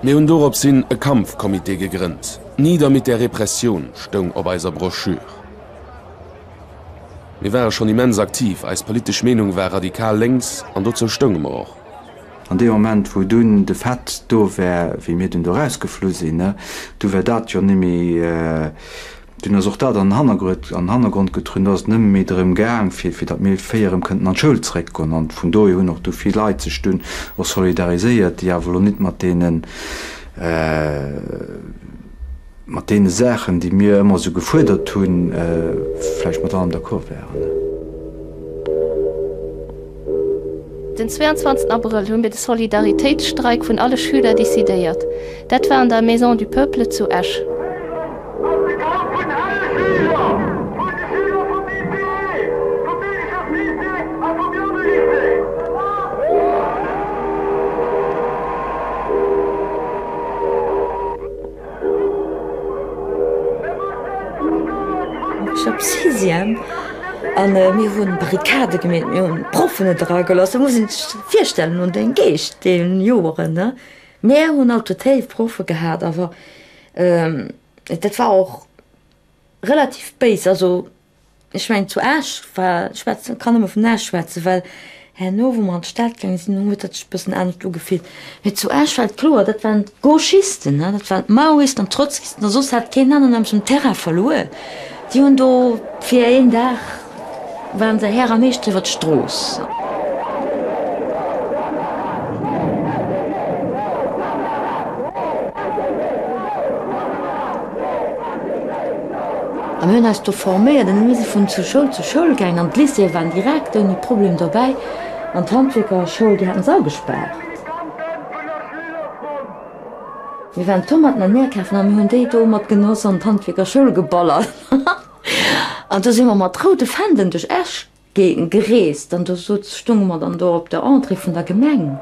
Mir hunn dorops hin e Kampfcomité gegrënnt. Nieder mit der Repression stoung op eiser Broschür. Mir ware schonn immens aktiv, eis politesch Meenung war radikal lénks an dozou stounge mer och. An dee Moment, wou dunn de Fait do war, wéi mir dunn do erausgeflu sinn, du war dat jo nimmi. Dunn ass och dat an den Hannergrond getrun, dass et nëmme méi drëm gaang, fir datt mir vier erëm kënnten an d'Schoul zréckgoen. An vun dohier hunn och du vill Leit sech dunn och solidariséiert, déi awer elo net mat deene, mat deene Saachen, déi mir ëmmer esou gefuerdert hunn, vläicht mat allem d'accord waren. Den 22 Abrëll hu mir de Solidaritéitsstreik vun alle Schüler decidéiert. Dat war an der Maison du Peuple zu Esch. Ech hab Sixième an mir hun Barricade gemeet, mir hun Proffen net era geloss. Du muss een sech virstellen un den Geescht deen Joeren ne. Mir hun alt tot héif Proffen gehaat awer dat war och relativ béis also. Ech mengen zu Esch war, ech schwätzen, kann nëmme vun Esch schwätzen, well herno wou mer an d'Stad gaange sinn, do huet dat sech e bëssen anescht ugefillt. Mee zu Esch war et kloer, dat waren d'Gauchisten, ne, dat waren d'Maoisten an d'Trotzkisten a soss hat keen aneren nämlech den Terrain verluer. Déi hunn do fir een Dag, ware se Här a Meeschter iwwer d'Strooss. A mir hunn eis do forméiert an da mir si vun zu Schoul zu Schoul gaangen an d'Lycéeë waren direkt ouni Problem dobäi an d'Handwierkerschoul, déi haten se all gespaart. Mir waren Tomaten an Äer kafen a mir hunn déi do mat Genoss an d'Handwierkerschoul geballert an do si mer mat roude Fändelen duerch Esch gereest, an do stounge mer dann do op der Entrée vun der Gemeng.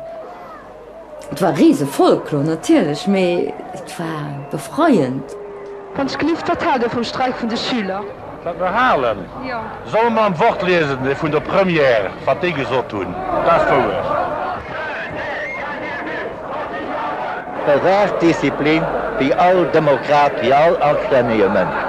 Et war Risefolklor natierlech, mee et war befreiend. Wann ech gelift, wat haalt Dir vum Streik vun de Schüler? Wat mer halen? Solle mer am Wort liesen, dee vun der Première, wat déi gesot hunn, dat ass wouer. Bewaach d'Disziplin wéi all Demokrat, wéi all anstännege Mënsch.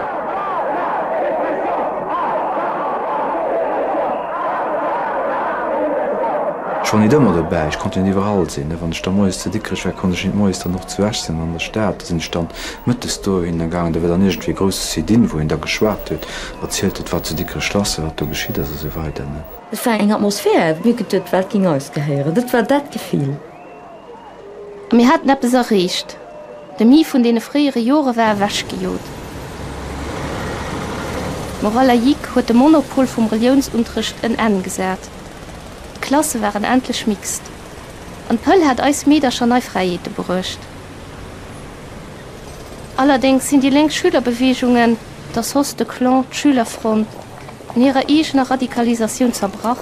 Ech war net ëmmer dobäi, ech konnte net iwwerall sinn. Wann ech da moies zu Dikrech war, konnt ech net moies dann och zu Esch sinn an der Stad. Da sinn ech dann mëttes dohin da gaangen. Da war dann iergendwéi e grouse Sit-in, wou een da geschwat huet, erzielt huet, wat zu Dikrech lass war, wat do geschitt ass a sou weider. Et war eng Atmosphär, wierklech, dat wat géing eis gehéieren. Dat war dat Gefill. A mir haten eppes erreecht. De Mii vun deene fréiere Jore war ewechgejot. D'Morale laïque huet de Monopol vum Reliounsunterrecht en Enn gesat. D'Klasse waren endlech mixt. An d'Pëll hat eis Meedercher nei Fräiheete bruecht. Allerdéngs sinn déi lénk Schülerbewegungen, der sos, de Clan, d'Schülerfront, an hirer eegener Radikalisatioun zerbrach.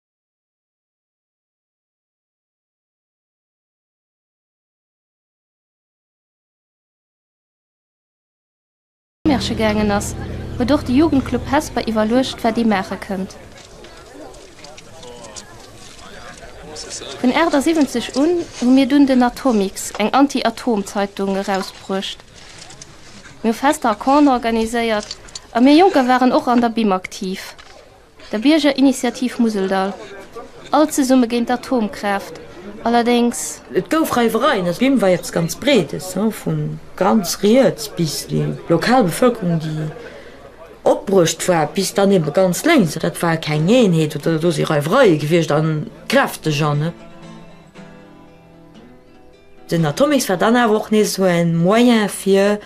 Märche gaangen ass, huet och de Jugendclub Hesper iwwerluecht, wat ee maache kënnt. Vun 78 un hu mir dunn den Atomix, eng Anti-Atom-Zeitung, erausbruecht. Mir hu Fester a Campen organiséiert a mir Jonker waren och an der BIM aktiv. der Biergerinitiativ Museldall, All zesumme géint d'Atomkraaft, allerdéngs. Et gouf Reiwereien, also d'Wimm war eppes ganz Breedes, vu ganz riets bis déi lokal Bevëlkerung, déi opbruecht war, bis dann ebe ganz lénks, also dat war keng Eenheet, oder do si Reiwereie gewiescht, a kräfteg. An den Atomex war dann awer och nees esou en Moyen fir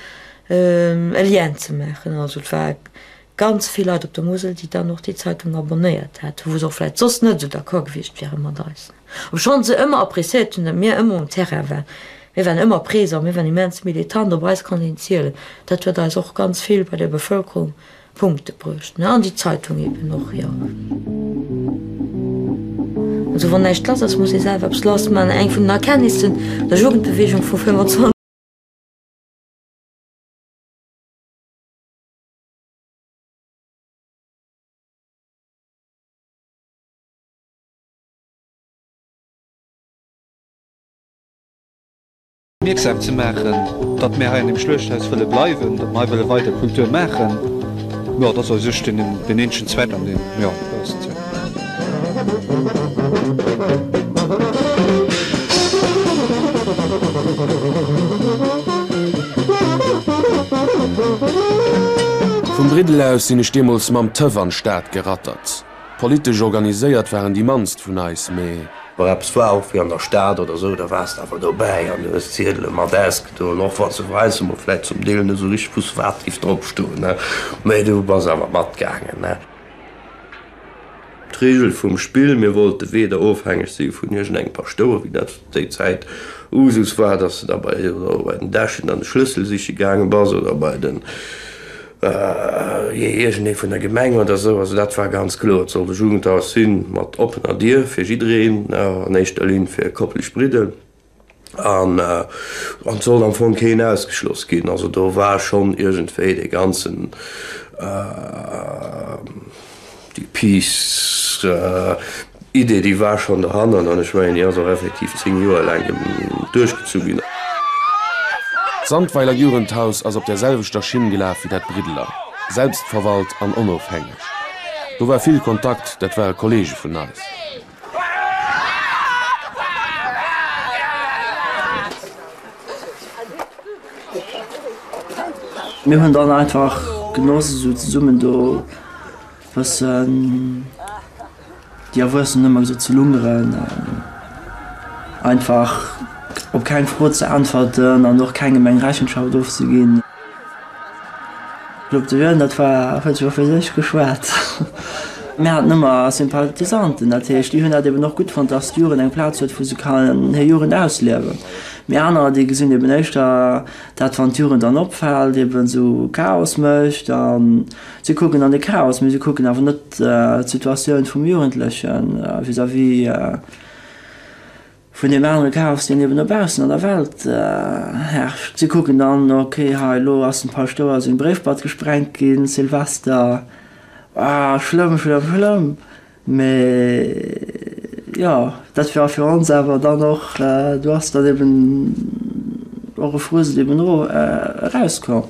e Lien ze maachen, also et war ganz vill Leit op der Musel, déi dann och déi Zeitung abonnéiert hätten, wou se och vläicht soss net esou d'accord gewiescht wiere mat eis, obschonn se ëmmer appréciéiert hunn, datt mir ëmmer um Terrain waren. Mir waren ëmmer présent, mir waren immens militant, op eis konnt een zielen. Dat huet eis och ganz vill bei der Bevëlkerung Punkte bruecht. An déi Zeitung eben och, jo. Also wann näischt lass ass, muss ee selwer eppes lass maachen. Eng vun den Erkenntnissen der Jugendbeweegung vu 25. Mierksam ze maachen, datt mir hei an deem Schluechthaus wëlle bleiwen, datt mir hei wëlle weider Kultur maachen. Jo, et ass eis Ustriewen, deen énschen Zweck an deem, jo, Vum Briddel aus sinn ech deemools mam Tëff an d'Stad gerattert. Politesch organiséiert waren déi mannst vun eis, mee. Wa eppes war, och wéi an der Stad oder sou, da wars de awer dobäi an du hues d'Ziedele mat ausgedoen, och wa se weissemol vläit zum Deel net sou richteg wusste, wat géif drop stoen, mee du bass awer matgaangen. D'Reegel vum Spill, Mir wollte weder ofhängeg si vun iergendengem Paschtouer, wéi dat zu déi Zäit Usus war, dass de da bei den Dechen dann de Schlëssel siche gaange bass oder bei den, jee, iergendee vun der Gemeng oder esou. Also dat war ganz kloer, et sollt e Jugendhaus si mat oppener Dier fir jiddereen, an éischter Linn fir kopplegebridde. An et sollt am Fong keen ausgeschloss ginn. Also do war schonn iergendwéi dee ganzen, déi Peace, Idee, déi war schonn dohannert. An ech mengen, déi ass och effektiv zéng Joer laang duerchgezu ginn. D'Sandweiler Jugendhaus ass op der selwechter Schinn gelaf wéi dat Briddeler, selbstverwalt an onofhängeg. Do war vill Kontakt, dat ware Kolleege vun eis. Mir hunn dann einfach genoss esou zesummen do bëssen déi Erwuessen hunn ëmmer gesot ze lungeren an einfach op keng Fro ze äntwerten an och kengem eng Rechenschaft ofzeginn. D'Locteville, dat war, huet jo fir sech geschwat. Mir haten ëmmer Sympathisanten, dat heescht, déi hunn dat eben och gutt fonnt, dass d'Jugend eng Plaz huet, wou se kann hir Jugend ausliewen. Mir anerer, déi gesinn eben éischter dat, wann d'Jugend dann opfält, eben esou Chaos mécht. A si kucken dann de Chaos, mee si kucken awer net d'Situatioun vum Jugendleche vis-à-vis. Vun deem anere Chaos, deen eben dobaussen an der Welt herrscht. Si kucken dann, ok, hei elo ass dem Paschtouer seng Bréifbad gesprengt ginn, Silvester, ah schlëmm, schlëmm, schlëmm. Mee jo, dat war fir ons awer dann och, do ass dann eben och e Frusel eben eraus komm.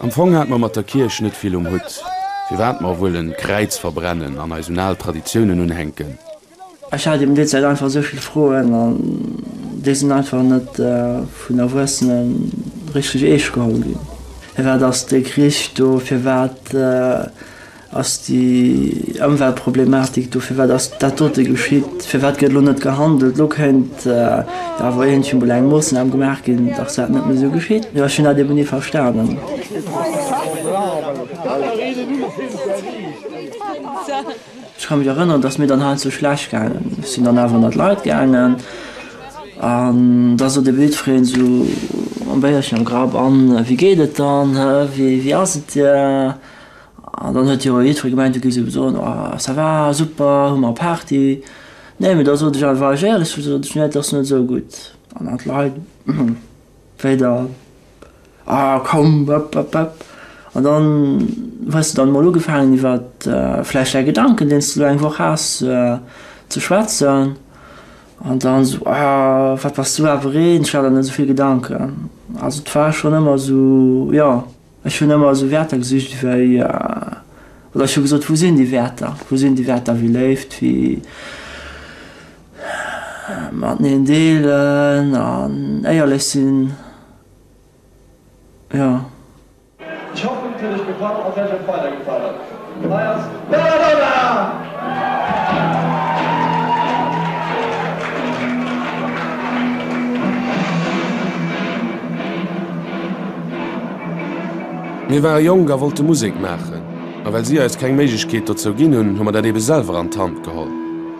Am Fong hat mer mat der Kierch net vill um Hutt, firwat mer wuel en Kräiz verbrennen an eis un al Traditiounen unhänken. Ech hat eben déi Zäit einfach esou vill Froen an déi sinn einfach net vun Erwuessenen richteg eescht geholl ginn. Firwat ass dee Krich do? Firwat. Ass déi Ëmweltproblematik do? Firwat ass dat dote geschitt? Firwat gëtt elo net gehandelt? Elo kéint da wor iergendwéi mol eng Moossnam gemaach ginn, dass dat net méi esou geschitt. Ech hunn dat eben ni verstanen. Ech ka mech erënneren, dass mir dann heiansdo schlecht gaangen sinn, dann awer ënnert d'Leit gaangen an da sot ee wildfriem esou mam Béierchen am Grapp, An wéi geet et dann? Wéi ass et dir? An dann huet jo jiddweree gemengt, du géifs ebe soen, oh ça va, super, hu mer Party. Nee, mee da sot ech einfach, war ech éierlech, du sot ech, nee, et ass net esou gutt. An an d'Leit, hm, wéi dann, ah komm, ëpp, ëpp, ëpp. An dann hues de dann emol ugefaangen iwwer vläicht däi Gedanken, deen s de elo eng Woch has, ze schwätzen. An dann esou, ah, wat bass du awer een, ech hat der net esou vill Gedanken. Also et war schonn ëmmer esou, jo. Ech hunn ëmmer esou Wäerter gesicht wéi, oder ech hu gesot, wou sinn déi Wäerter? Wou sinn déi Wäerter wéi Léift, wéi mateneen deelen an éierlech sinn? Jo. Ech hoffen, et huet Iech gefall a wäert Iech och weider gefalen. Hei ass d'Belladonna! Mir ware jonk a wollte Musek maachen, a well si eis keng Méiglechkeet dozou ginn hunn, hu mer dat eebe selwer an d'Hand geholl.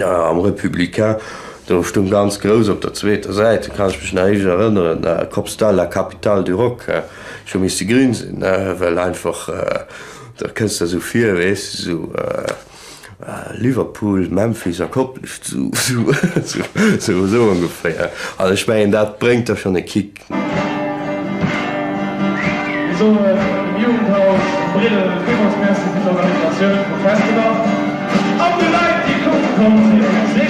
Am Républicain, do stoung ganz grouss op der zweeter Säit, do kann ech mech nach richteg erënneren, Kopstal, la capitale du rock. Ech hu misste grin sinn, well einfach, da kënns de der esou vir, weess de, esou Liverpool, Memphis a Koplescht, esou ongeféier. An ech mengen, dat bréngt der schonn e Kick. Mir soe dem Jugendhaus Bridel villmools Merci fir d'Organisatioun vum Festival an de Leit déi kucke komm sinn. Merci.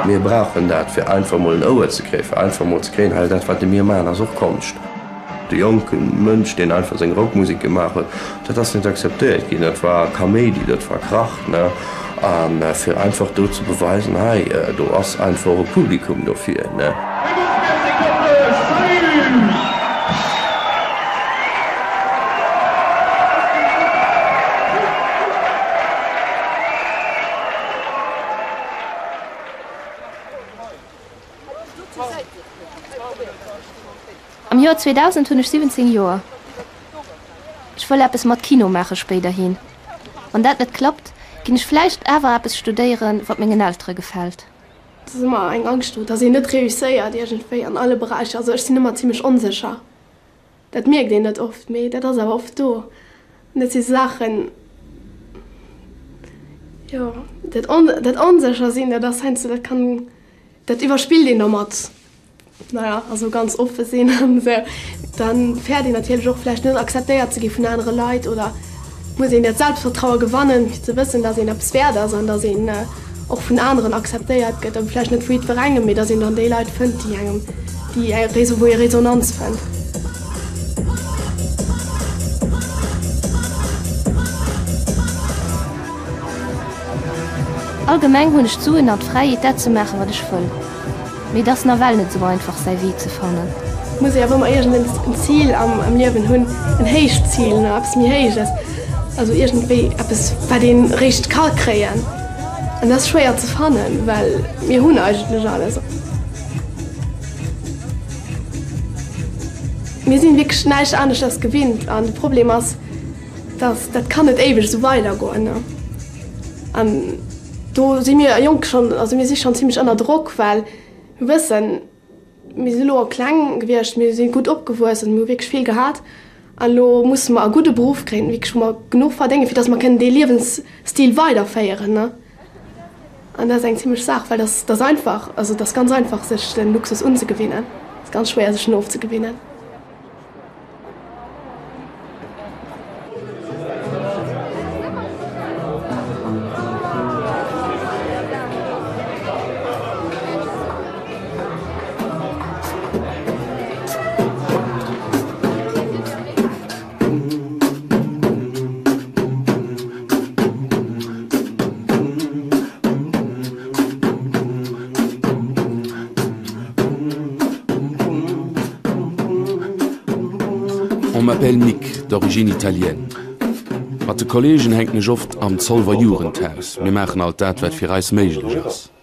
Mir brauchen dat fir einfach mol en Ouer ze kréien, fir einfach mol ze kréien, hey dat wat de mir maachen ass och Konscht. De jonke Mënsch, deen einfach seng Rockmusek gemaach huet, dat ass net akzeptéiert ginn. Dat war Kaméidi, dat war Krach. A fir einfach do ze beweisen, hei do ass einfach och e Publikum dofir. Am Joer 2000 hunn ech 17 Joer. Ech wëll eppes mat Kino maache spéiderhin. Wann dat net klappt, ginn ech vläicht awer eppes studéiere wat mengen Eltere gefält. Et ass ëmmer eng Angscht do, datt een net reusséiert iergendwéi an alle Beräicher. Also ech sinn ëmmer zimmlech onsécher. Dat mierkt een net oft, mee dat ass awer oft do. An dat si Saachen, jo, dat on, dat onsécher sinn, dat ass heiansdo, dat kann, dat iwwerspillt een domat, naja, also ganz oppe sinn an esou. Dann fäert een natierlech och vläicht net acceptéiert ze gi vun anere Leit oder. muss een dat Selbstvertraue gewannen, fir ze wëssen, datt een eppes wäert ass an datt een och vun aneren acceptéiert gëtt, an vläicht net vu jiddwerengem, mee datt een dann déi Leit fënnt, déi engem, déi ee, wou ee Resonanz fënnt. Allgemeng hunn ech d'Suen an d'Fräiheet, dat ze maachen, wat ech wëll. Mee et ass nawell net esou einfach säi Wee ze fannen. Et muss ee awer ëmmer iergendens en Zil am Liewen hunn, en héicht Zil, nach eppes méi héiches, also iergendwéi eppes wat een eréischt ka kréien. An dat ass schwéier ze fannen, well mir hunn eigentlech alles. Mir sinn wierklech näischt aneschters gewinnt an de Problem ass, Datt dat kann net éiweg esou weidergoen. An do si mir Jonk schonn, also mir si schonn zimmlech ënner Drock, well mir wëssen, mir si elo kleng gewiescht, mir si gutt opgewuess an hu wierklech vill gehat. An elo musse mer e gudde Beruff kréien, wierklech wou mer genuch verdéngen, fir datt mer kënnen dee Liewensstil weiderféieren. An dat ass eng zimlech Saach, well dat ass einfach, also et ass ganz einfach sech de Luxus unzegewinnen, et ass ganz schwéier sech en ofzegewinnen. On m'appelle Mick, d'origine italienne. Mat de Kolleegen hänken ech oft am Zolwer Jugendhaus. Mir maachen alt dat, wat fir eis méiglech ass.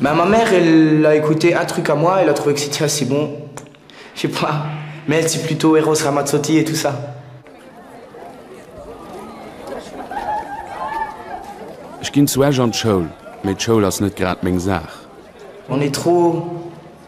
Mais ma mère elle a écouté un truc à moi, elle a trouvé que c'etait assez bon, je sais pas, mais elle c'est plutôt Eros Ramazzotti et tout ça. Ech ginn zu Esch an d'Schoul, mee d'Schoul ass net grad meng Saach. On est trop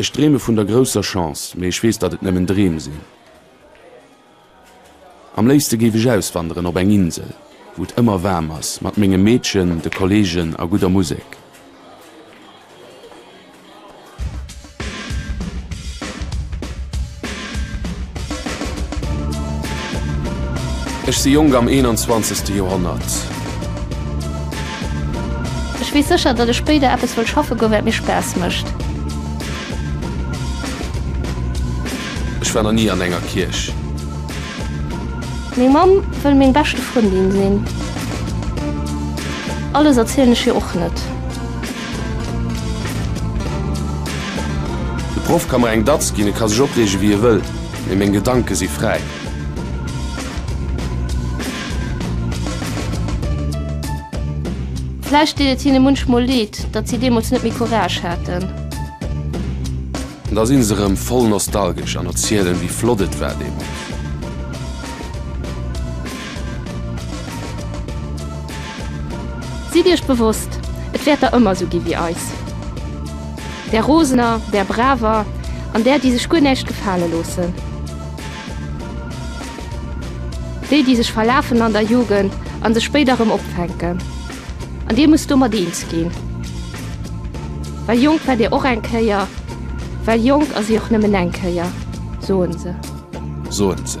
Ech dreeme vun der grousser Chance, mee ech weess, datt et nëmmen Dreem sinn. Am léifste géif ech auswanderen op eng Insel, wou et ëmmer waarm ass, mat mengem Meedchen, de Kolleegen a gudder Musek. Ech si jonk am 21. Joerhonnert. Ech weess sécher, datt ech spéider eppes wëll schaffe goen, wat mir Spaass mécht. Ech war nach ni an enger Kierch. Meng Mamm wëll meng beschte Frëndin sinn. Alles erzielen ech hir och net. De Proff ka mer eng Datz ginn, e ka sech opreege wéi e wëll, mee meng Gedanke si fräi. Vläicht deet et hinne munchmol Leed, datt si deemools net méi Courage haten. Da sinn se rëm voll nostalgesch an erzielen, wéi flott et war deemools. Sidd Iech bewosst, et wäert der ëmmer esou gi wéi eis. Där Rosener, där Braver an där, déi sech guer näischt gefale loossen. Déi, déi sech verlafen an der Jugend a sech spéider rëm opfänken. An Dir musst domat eens ginn, well jonk war Dir och eng Kéier, well jonk ass ee och nëmmen eng Kéier, soen se. Soen se.